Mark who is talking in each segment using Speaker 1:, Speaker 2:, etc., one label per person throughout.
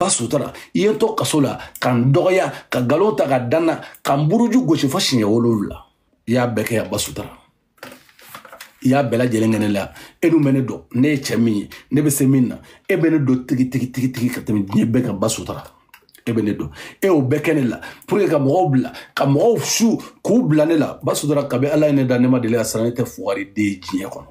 Speaker 1: ba sutura i ye n to kaso la ka n dɔgɔya ka nkalon ta k'a da n na ka n buruju gosi fo siɲɛ wolonwula i y'a bɛɛ kɛ yan ba sutura i y'a bɛɛ lajɛlen kɛ ne la e dun bɛ ne dɔn ne ye cɛ min ye ne bɛ se min na e bɛ ne dɔn tigi tigi tigi tigi ka tɛmɛ diɲɛ bɛɛ kan ba sutura e bɛ ne dɔn e y'o bɛɛ kɛ ne la pour que ka mɔgɔw bila ka mɔgɔw su k'u bila ne la ba sutura kabi ala ye ne da ne ma deli ka siran ne tɛ fugari den ye diɲɛ kɔnɔ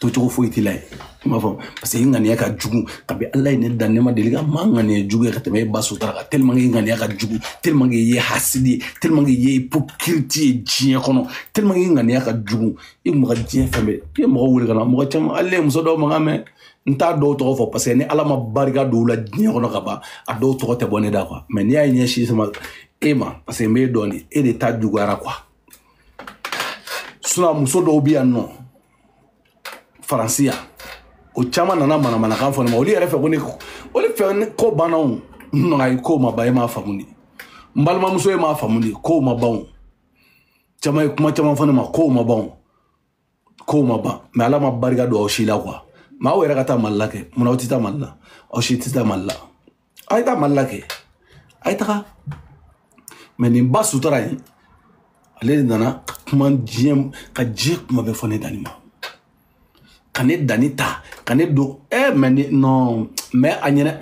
Speaker 1: tocogo foyi t'i la ye i m'a fɔ parce que i ŋaniya ka jugu kabi ala ye ne dan ne ma deli ka maa ŋaniya jugu ye ka tɛmɛ e ba sutura kan tellement que i ŋaniya ka jugu tellement que i ye hasidi ye tellement que i ye hypocrite ye diɲɛ kɔnɔ tellement que i ŋaniya ka jugu i kun bɛ ka diɲɛ fɛn bɛɛ i ye mɔgɔ wele ka na mɔgɔ caman hali ne ye muso dɔw mankan mɛn n t'a dɔw tɔgɔ fɔ parce que ni ala ma barika don u la diɲɛ kɔnɔ ka ban a dɔw tɔgɔ tɛ bɔ ne da quoi mais n'i y'a ye ɲɛsin sama e ma parce que n b'e dɔn de e de ta juguyara quoi sinon muso dɔw bɛ yan nɔ faransi yan o caman nana manamanakan fɔ ne ma olu yɛrɛ fɛ ko ne olu fɛ ko banna o n ko ayi ko ma ban e m'a faamu de n balimamuso e m'a faamu de ko ma ban o caman ye kuma caman fɔ ne ma ko ma ban o ko ma ban mais ala ma barika don aw si la quoi mais aw yɛrɛ ka taa mali la kɛ munna aw tɛ taa mali la aw si tɛ taa mali la aw ye taa mali la kɛ a ye taga mais nin ba sutura in ale de nana ka kuma diɲɛ ka diɲɛ kuma bɛɛ fɔ ne dani ma ka ne dani ta ka ne don ɛ eh, mais non mais a ɲɛna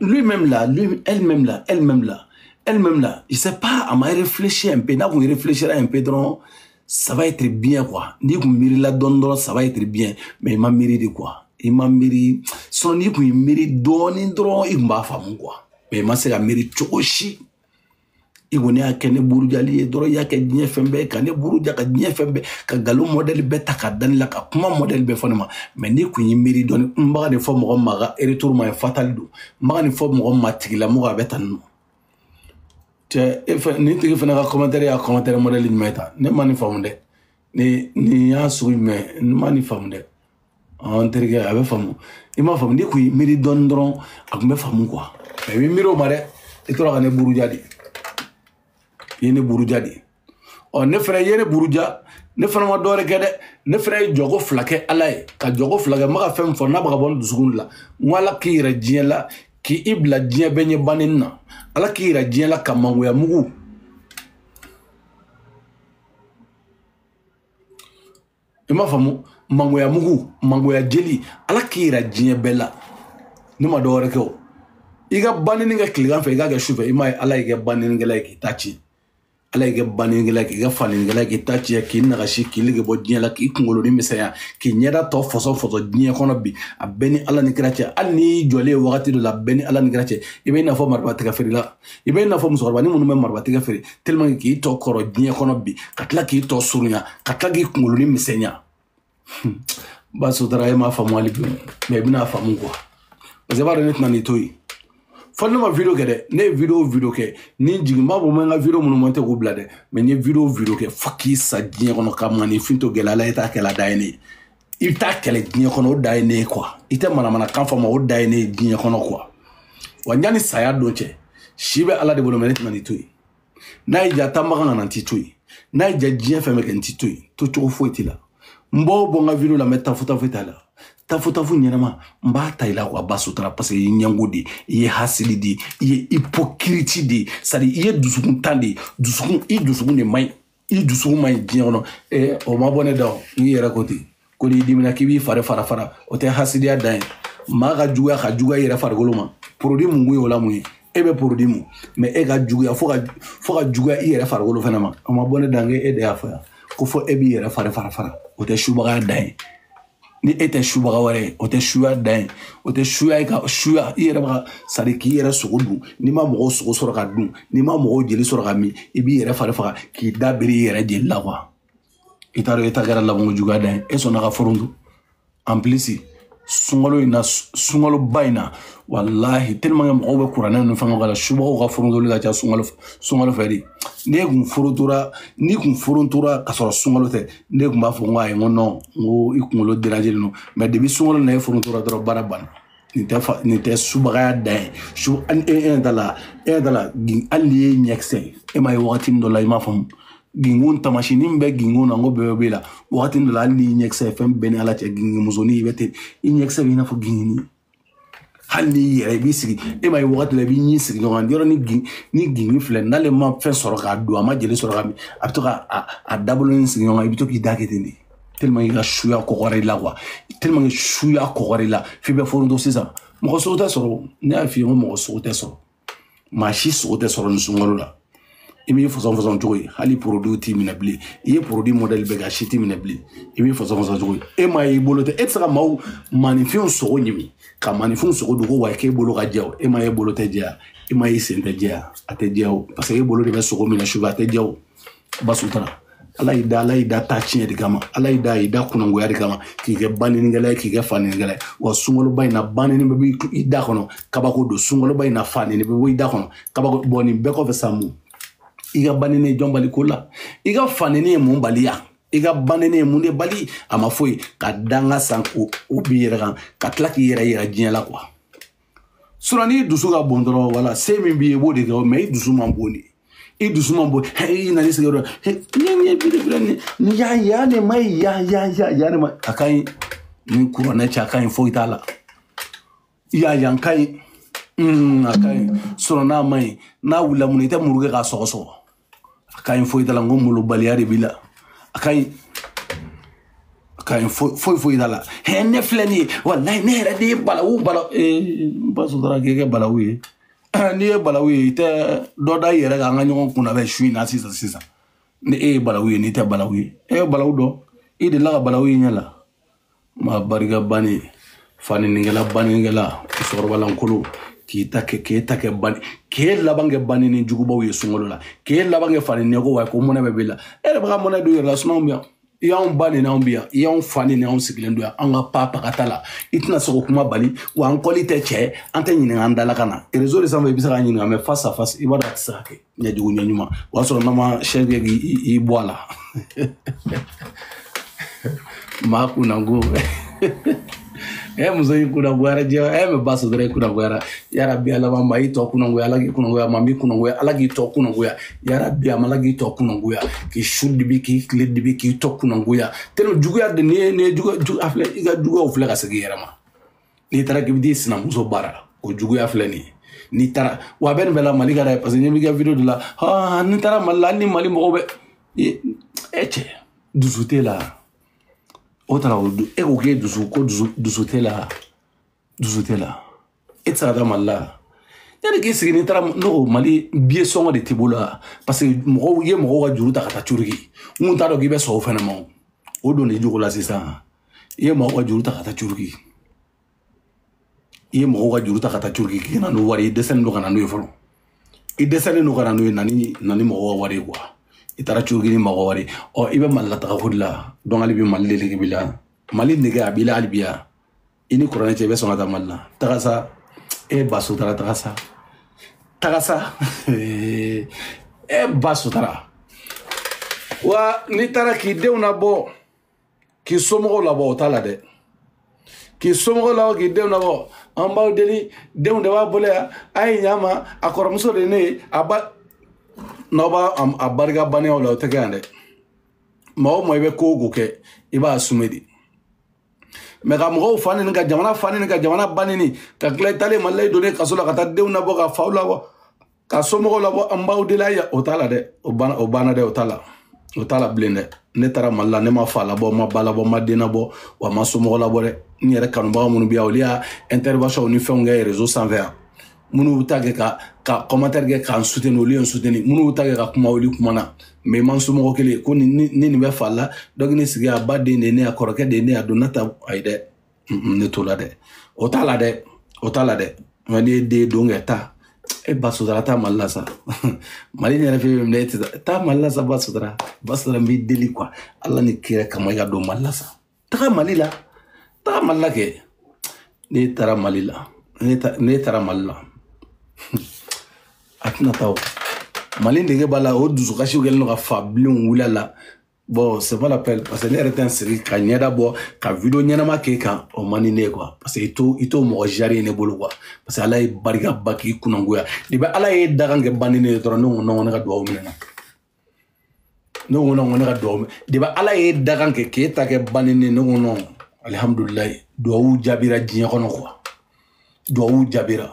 Speaker 1: lui même là lui elle même là elle même là elle même là je sais pas a ma réfléchi un peu n'a kun réfléchira un peu dɔrɔn ça va être bien quoi n'i kun miirila dɔɔni dɔrɔn ça va être bien mais i ma miiri de quoi i ma miiri sinon n'i kun ye miiri dɔɔni dɔrɔn i kun b'a faamu quoi mais i ma se ka miiri cogo si i kɔni y'a kɛ ne burujali ye dɔrɔn i y'a kɛ diɲɛ fɛn bɛɛ ka ne buruja ka diɲɛ fɛn bɛɛ ka nkalon modèle bɛɛ ta k'a da ne la ka kuma modèle bɛɛ fɔ ne ma mais n'i kun ye miiri dɔɔni n bɛ ka nin fɔ mɔgɔ ma a ka retour ma ye fatal don n bɛ ka nin fɔ mɔgɔ ma tigilamɔgɔ a bɛ tan nɔ cɛ nin tigi fana ka commentaire y'a commentaire modèle jumɛn ye tan ne ma nin faamu dɛ nin y'a sugu jumɛn n ma nin faamu dɛ n terikɛ a bɛ faamu i m'a faamu n'i kun y'i miiri dɔɔni dɔrɔn a kun bɛ faamu quoi mais i bɛ miiri o ma dɛ i tora ka ne buruja de i ye ne buruja de ɔ ne fana ye ne buruja ne fana ma dɔwɛrɛ kɛ dɛ ne fana ye jɔko fila kɛ ala ye ka jɔko fila kɛ n bɛ ka fɛn fɔ n'a bɛ ka bɔ n dusukun la n ko ala k'i yira diɲɛ la k'i bila diɲɛ bɛɛ ɲɛ banini na ala k'i yira diɲɛ la ka mangoya mugu i m'a faamu mangoya mugu mangoya jeli ala k'i yira diɲɛ bɛɛ la ne ma dɔwɛrɛ kɛ o i ka banini kɛ tilegan fɛ i k'a kɛ sufɛ i m'a ye ala y'i kɛ baninikɛla ye k'i ta ci ala y'i kɛ banɛnikɛla k'i kɛ fanɛnikɛla k'i ta tiɲɛ k'i nagasi k'i nege bɔ diɲɛ la k'i kunkolonin misɛnya k'i ɲɛda tɔ fɔsɔ fɔsɔ diɲɛ kɔnɔ bi a bɛɛ ni ala ni kira cɛ hali n'i jɔlen ye wagati dɔ la a bɛɛ ni ala ni kira cɛ i bɛ i n'a fɔ marabatiga feerela i bɛ i n'a fɔ musokɔrɔbanin minnu bɛ marabatiga feere tellement k'i tɔ kɔrɔ diɲɛ kɔnɔ bi ka tila k'i tɔ surunya ka tila k'i kunkolonin misɛnya ba sotara e m'a faamu hali bi mɛ i bɛna faamu kuwa parce que i b'a dɔn ne tɛna nin to yen fo ne ma video kɛ dɛ ne ye video video kɛ ni jigin b'a bɔ ma n ka video minnu monté k'u bila dɛ mɛ n ye video video kɛ fo k'i sa diɲɛ kɔnɔ ka maaninfin to gɛlɛya la i ta kɛlɛ da ye ne ye i bɛ taa kɛlɛ diɲɛ kɔnɔ o da ye ne ye kuwa i tɛ manamanakan fɔ ma o da ye ne ye diɲɛ kɔnɔ kuwa wa yanni saya don cɛ si bɛ ala de bolo mɛ ne tɛna nin to yen n'a y'i diya taa makan ka na n t'i to yen n'a y'i diya diɲɛ fɛn bɛɛ kɛ n t'i to yen to cogo foyi t'i la n b'o bɔ n ka video la mɛ tafutafu t'a la tafutafu ɲɛnama n b'a ta i la kuwa ba sotara parce que i ye ɲɛngo de i ye hasidi de i ye hypocrite de c'est à dire i ye dusukuntan de dusukun i dusukun de man ɲi i dusukun man ɲi diɲɛ kɔnɔ ee o ma bɔ ne da o i yɛrɛ ko ten ko n'i dimina k'i b'i fari fara fara o tɛ hasidiya dan ye maa ka juguya ka juguya i yɛrɛ farikolo ma porodi mun kun ye o la mun ye e bɛ porodi mun mɛ e ka juguya fo ka fo ka juguya i yɛrɛ farikolo fana ma o ma bɔ ne da kɛ e de y'a fɔ yan ko fɔ e b'i yɛrɛ fari fara fara o tɛ subagaya dan ye ni e tɛ subaga wɛrɛ ye o tɛ suya dan ye o tɛ suya ye ka suya i yɛrɛ b'a sari k'i yɛrɛ sogo dun n'i ma mɔgɔw sogo sɔrɔ ka dun n'i ma mɔgɔw jeli sɔrɔ ka min i b'i yɛrɛ fari fara k'i da biri i yɛrɛ jeli la kuwa i t'a dɔn e ta kɛra labanko juguya dan ye e sɔnna ka foronto en plus sunkalo in na sunkaloba in na walahi tellement que mɔgɔw bɛ kuranɛ ninnu fɛnkɛw kalan subagaw ka forontoli ka ca sunkalo sunkalo fɛ de n'e kun forontora n'i kun forontora ka sɔrɔ sunkalo tɛ ne tun b'a fɔ n ko ayi n ko non n ko i kunkolo derajelen don mɛ depi sunkalo na e forontora dɔrɔn baara banna nin tɛ fa nin tɛ subagaya dan ye su e e ɲɛ t'a la e ɲɛ t'a la gin hali n'i y'e ɲɛkisɛ ye e m'a ye wagati min dɔ la i m'a faamu gingin taamasiyɛn min bɛ gingin na n k'o bɛɛ b'e la wagati dɔ la hali n'i ɲɛkisɛ ye fɛn bɛɛ ni ala cɛ ginginmusonin i bɛ ten i ɲɛkisɛ bɛ i n'a fɔ ginginnin hali n'i yɛrɛ i b'i sigi e m'a ye wagati la i b'i ɲin sigi ɲɔgɔn kan yɔrɔ ni gingin filɛ n'ale ma fɛn sɔrɔ k'a dun a ma jeli sɔrɔ k'a min a bɛ to ka a dabolonin sigi ɲɔgɔn kan i bɛ to k'i da kɛ ten de tellement i ka suya kɔgɔra i la kuwa tellement suya kɔgɔra i la f'i bɛ foronto sisan mɔgɔ sogo tɛ sɔrɔ ne y'a f'i ye ko mɔgɔ sogo tɛ sɔrɔ maa si sogo tɛ sɔrɔ nin sunkalo la i b'i fɔsɔn fɔsɔn cogo ye hali porodiw t'i minɛ bilen i ye porodi mɔdɛli bɛɛ kɛ a si t'i minɛ bilen i b'i fɔsɔn fɔsɔn cogo ye e m'a ye i bolo tɛ e tɛ se ka maaw maaninfinw sogo ɲimi ka maaninfinw sogo dogo wa k'e bolo ka jɛ o e m'a ye e bolo tɛ jɛya e m'a ye e sen tɛ jɛya a tɛ jɛya o paseke e bolo de bɛ sogo minɛ sufɛ a tɛ jɛya o ba sotara ala y'i da ala y'i da taa tiɲɛ de kama ala y'i da y'i da kunangoya de kama k'i kɛ baninikɛla ye k'i kɛ faninikɛla ye wa sunkaloba in na banini bɛ bɔ i da kɔnɔ kabako don sunkaloba in na fanini bɛ bɔ i da kɔnɔ kabako don nin bɛɛ kɔfɛ sa mun i ka banini ye jɔn bali ko la i ka fanini ye mun bali yan i ka banini ye mun de bali a ma foyi ka danga san o b'i yɛrɛ kan ka tila k'i yɛrɛ yira diɲɛ la kuwa sinɔn n'i dusu ka bon dɔrɔn wala se min b'i ye i b'o de kɛ mɛ i dusu man bon de i dusu man bon i nana i sigi dɔrɔn nin ye biribiri nin nin ya ya ne ma ye ya ya ya ya ne ma a ka ɲi ni kuranɛ cɛ a ka ɲi foyi t'a la ya yan ka ɲi a ka ɲi sinɔn n'a ma ɲi n'a wulila mun na i tɛ muru kɛ k'a sɔgɔsɔgɔ a ka ɲi foyi t'a la n ko molobaliya de b'i la a ka ɲi a ka ɲi foyi foyi t'a la hɛ ne filɛ nin ye walayi ne yɛrɛ de ye balawu bala n ba sotara k'i kɛ balawu ye n'i ye balawu ye i tɛ dɔ da i yɛrɛ kan an ka ɲɔgɔn kunna bɛ su in na sisan sisan ni e ye balawu ye n'i tɛ balawu ye e ye balawu dɔn i delila ka balawu ye ɲɛ la ma barika bani faninikɛla baninikɛla musokɔrɔba lankolon k'i ta kɛ k'e ta kɛ bani k'e laban kɛ banini jugubaw ye sunkalo la k'e laban kɛ fani nɛgɛw wa ko mɔnɛ bɛ b'i la e yɛrɛ bɛ ka mɔnɛ don i yɛrɛ la sinɔn anw bɛ yan i y'anw ba nini anw bi yan i y'anw fa nini anw sigilen don yan an ka pa pagata la i tɛna se k'o kuma bali wa an kɔli tɛ cɛ an tɛ ɲininka an dala ka na rezo de sanfɛ i bɛ se k'a ɲininka mɛ face à face i b'a dɔn a tɛ se ka kɛ ɲɛjugu ɲɛ ɲuman o y'a sɔrɔ n'a ma sɛ kɛ k'i bɔ a la maa kunna ko ɛ muso y'i kunnagoyara jɛ ɛ mɛ ba sɔrɔ i kunnagoyara yarabi ala ma i tɔ kunnagoya ala k'i kunnagoya ma min kunnagoya ala k'i tɔ kunnagoya yarabi ama ala k'i tɔ kunnagoya k'i su dibi k'i tile dibi k'i tɔ kunnagoya tellement juguya de n'i ye n'i ye juguya a filɛ i ka juguyaw filɛ ka segin i yɛrɛ ma n'i taara k'i bɛ t'i sinamuso baara la o juguya filɛ nin ye n'i taara wa a bɛ nin bɛɛ la mali ka d'a ye parce que ɲɛ b'i ka video de la aa n'i taara mali la hali ni mali mɔgɔw bɛ e cɛ dusu t'e la o taara o e ko k'e dusu ko dusu dusu t'e la dusu t'e la e tɛ se ka taa mali la yanni k'i sigi n'i taara ne ko mali biye sɔngɔ de t'i bolo la parce que mɔgɔw i ye mɔgɔw ka juru ta ka taa turki n kun t'a dɔn k'i bɛ sɔn o fɛnɛ ma o don n'i jogo la sisan i ye mɔgɔw ka juru ta ka taa turki i ye mɔgɔw ka juru ta ka taa turki k'i na n'o wari ye i dɛsɛlen don ka na n'o ye fɔlɔ i dɛsɛlen don ka na n'o ye na ni na ni mɔgɔw ka wari ye kuwa i taara turki ni mɔgɔ wari ɔ i bɛ mali la taga ko de la donc hali bi mali de nege b'i la mali nege a b'i la hali bi yan i ni kuranɛ cɛ i bɛ sɔn ka taa mali la taga sa e ye ba sotara taga sa taga sa e ba sotara wa n'i taara k'i denw na bɔ k'i somɔgɔw labɔ o t'a la dɛ k'i somɔgɔw labɔ k'i denw labɔ an b'aw deli denw de b'a bolo yan a ye ɲa ma a kɔrɔmuso de ye ne ye a ba n'aw b'a a barika banneyaw la o tɛ kɛ yan dɛ maa o maa i bɛ ko o ko kɛ i b'a sume de mais ka mɔgɔw fa nini ka jamana fa nini ka jamana ba nini ka tila i taalen mali la i donnen kaso la ka taa denw labɔ ka faw labɔ ka somɔgɔw labɔ an b'aw deli a o t'a la dɛ o banna o banna dɛ o t'a la o t'a la bilen dɛ ne taara mali la ne ma fa labɔ ma ba labɔ ma den labɔ wa ma somɔgɔ labɔ dɛ n yɛrɛ kanubaga minnu bɛ yan olu y'a intervention ni fɛnw kɛ réseau sanfɛ yan minnu bɛ taa kɛ ka ka commentaire kɛ k'an soutenir olu ye n soutenir minnu bɛ taa kɛ ka kuma olu kumana mais man somɔgɔ kelen kɔni ni nin bɛ fa la donc ne sigi a baden de ye ne ye a kɔrɔkɛ de ye ne ye a donna ta ayi dɛ ne t'o la dɛ o t'a la dɛ o t'a la dɛ nka ne ye den don kɛ taa e ba sutara taa mali la sa mali in yɛrɛ fɛ bɛ minɛ e tɛ taa mali la sa ba sutara ba sutara n b'i deli quoi ala ni kira kama i ka don mali la sa taga mali la taga mali la kɛ ne taara mali la ne taara mali la a tɛna taa o mali nege b'a la o dusukasi kɛlen don ka fa bilenw wuli a la bon c'est pas la peine parce que ne yɛrɛ tɛ n sigi ka ɲɛda bɔ ka video ɲɛnama k'e kan o man di ne ye quoi parce que i t'o i t'o mɔgɔ jari ye ne bolo quoi parce que ala ye barika ban k'i kunnagoya de bɛ ala ye dakan kɛ ba nini ye dɔrɔn ne ko nɔgɔ ne ka dugawu minɛna ne ko nɔgɔ ne ka dugawu minɛ de bɛ ala ye dakan kɛ k'e ta kɛ ba nini ne ko nɔgɔ alihamudulilayi dugawu jaabira diɲɛ kɔnɔ quoi duwawu jaabira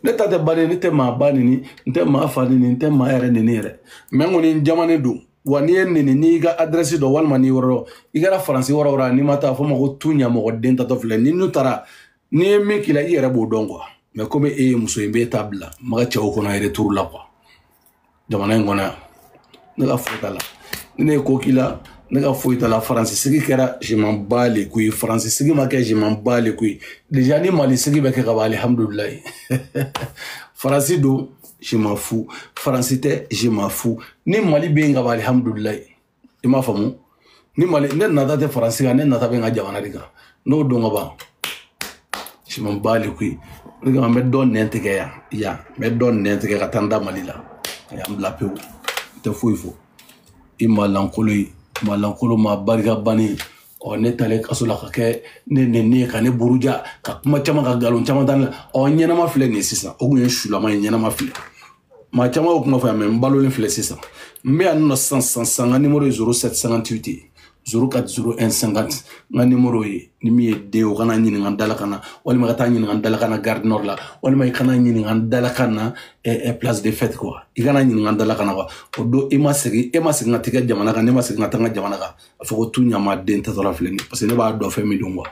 Speaker 1: ne ta tɛ ba nini n tɛ maa ba nini n tɛ maa fa nini n tɛ maa yɛrɛ nini yɛrɛ mais n kɔni n jamane don wa n'i ye n nini n'i ka adrɛsi dɔn walima n'i yɔrɔ dɔn i kɛra faransi yɔrɔ o yɔrɔ n'i ma taa fɔ ma ko tu ɲamɔgɔden taatɔ filɛ ni n'u taara n'i ye min k'i la i yɛrɛ b'o dɔn quoi mais komi e ye muso ye n b'e ta bila maga cɛw kɔnɔ retour la quoi jamana in kɔnɔ yan ne ka foyi t'a la ni ne ye ko k'i la ne ka foyi t'a la faransi sigi kɛra je m'en bats les couilles faransi sigi ma kɛ je m'en bats les couilles déjà ni mali sigi bɛ kɛ ka ban alihamudulilayi faransi don je m'en fous faransi tɛ je m'en fous ni mali bɛ yen ka ban alihamudulilayi i m'a faamu ni mali ne nata tɛ faransi kan ne nata bɛ n ka jamana de kan n'o don ka ban je m'en bats les couilles o de kama n bɛ dɔ nɛn tigɛ yan yan n bɛ dɔ nɛn tigɛ ka taa n da mali la a y'an bila pewu n tɛ foyi fɔ i ma lankolo ye maa lankolo maa barika bannen ɔ ne taalen kaso la ka kɛ ne nɛni ye ka ne buruja ka kuma caman ka nkalon caman da ne la ɔ ɲɛnama filɛ nin ye sisan o kun ye sulama ye ɲɛnama filɛ maa caman y'o kuma fɔ yan mais n balolen filɛ sisan n bɛ yan nɔ sisan sisan sisan n ka nimoro ye zéro sept cinquante huit zéro quatre zéro un cinquante n ka nimoro ye ni min ye den o ka na ɲininka n dalakan na walima ka taa ɲininka n dalakan na gare nord la walima i ka na ɲininka n dalakan na eh, eh, place de fête quoi i ka na ɲininka n dalakan na quoi o don e ma segin e ma segin ka tigɛ jamana kan ne ma segin ka taa n ka jamana kan a fɔ ko tu ɲama den tatɔla filɛ nin parce que ne b'a dɔn fɛn min don quoi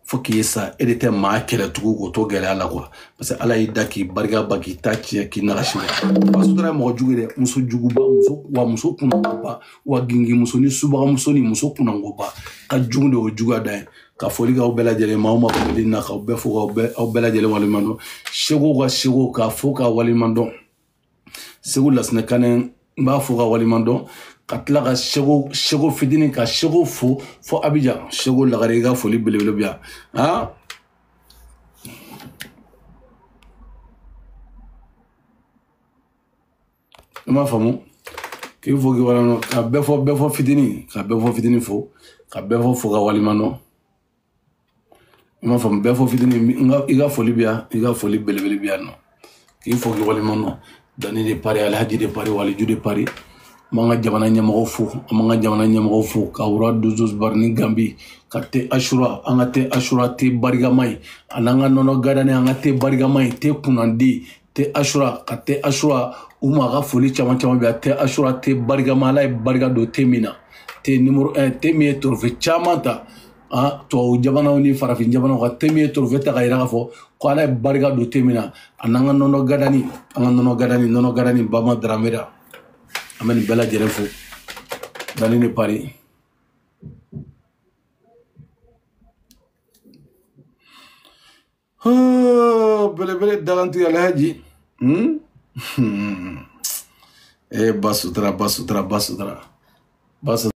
Speaker 1: fo k'i sa e de tɛ maa kɛlɛ tugun k'o to gɛlɛya la quoi parce que ala y'i da k'i barika ban k'i ta tiɲɛ k'i nagasi la basudara ye mɔgɔ jugu ye dɛ muso juguba muso wa muso kunangoba wa gingimuso ni subagamuso ni muso kunangoba ka jugu de o juguya da ye ka foli k'aw bɛɛ lajɛlen ma aw ma foli na k'aw bɛɛ fo k'aw bɛɛ aw bɛɛ lajɛlen waleɲuman dɔn seko ka seko k'a fo k'a waleɲuman dɔn seko lasinɛ kanɛ n b'a fo k'a waleɲuman dɔn ka tila ka seko seko fitinin ka seko fo fo abijan seko lagare i ka foli belebele bi yan han i m'a faamu k'i fo k'i waleɲuman dɔn ka bɛɛfɔ bɛɛfɔ fitinin ka bɛɛfɔ fitinin fo ka bɛɛfɔ fo k'a waleɲuman dɔn i m'a faamu bɛɛfɔ fitini i ka foli bɛ yan i ka foli belebele bɛ yan nɔ k'i fo k'i waleɲuman dɔn dani de paris alhaji de paris waliju de paris an b'an ka jamana ɲɛmɔgɔw fo an b'an ka jamana ɲɛmɔgɔw fo ka wura dozos bari ni gambi ka te asura an ka te asura te barikama ye a n'an ka nɔnɔ gadani an ka te barikama ye te kunnandi te asura ka te asura u ma ka foli caman caman bɛ yan te asura te barikama ala ye barika don te min na te nimoro un eh, te min ye torofe caman ta a ah, tubabu jamanaw ni farafin jamanaw ka te min ye torofe ta ka yira k'a fɔ ko ala ye barika don te min na a n'an ka nɔnɔ gadani an ka nɔnɔ gadani nɔnɔ gadani bama daramera an bɛ nin bɛɛ lajɛlen fo dani de paris belebele dagantiga alhaji e ba sutura ba sutura ba sutura ba sutura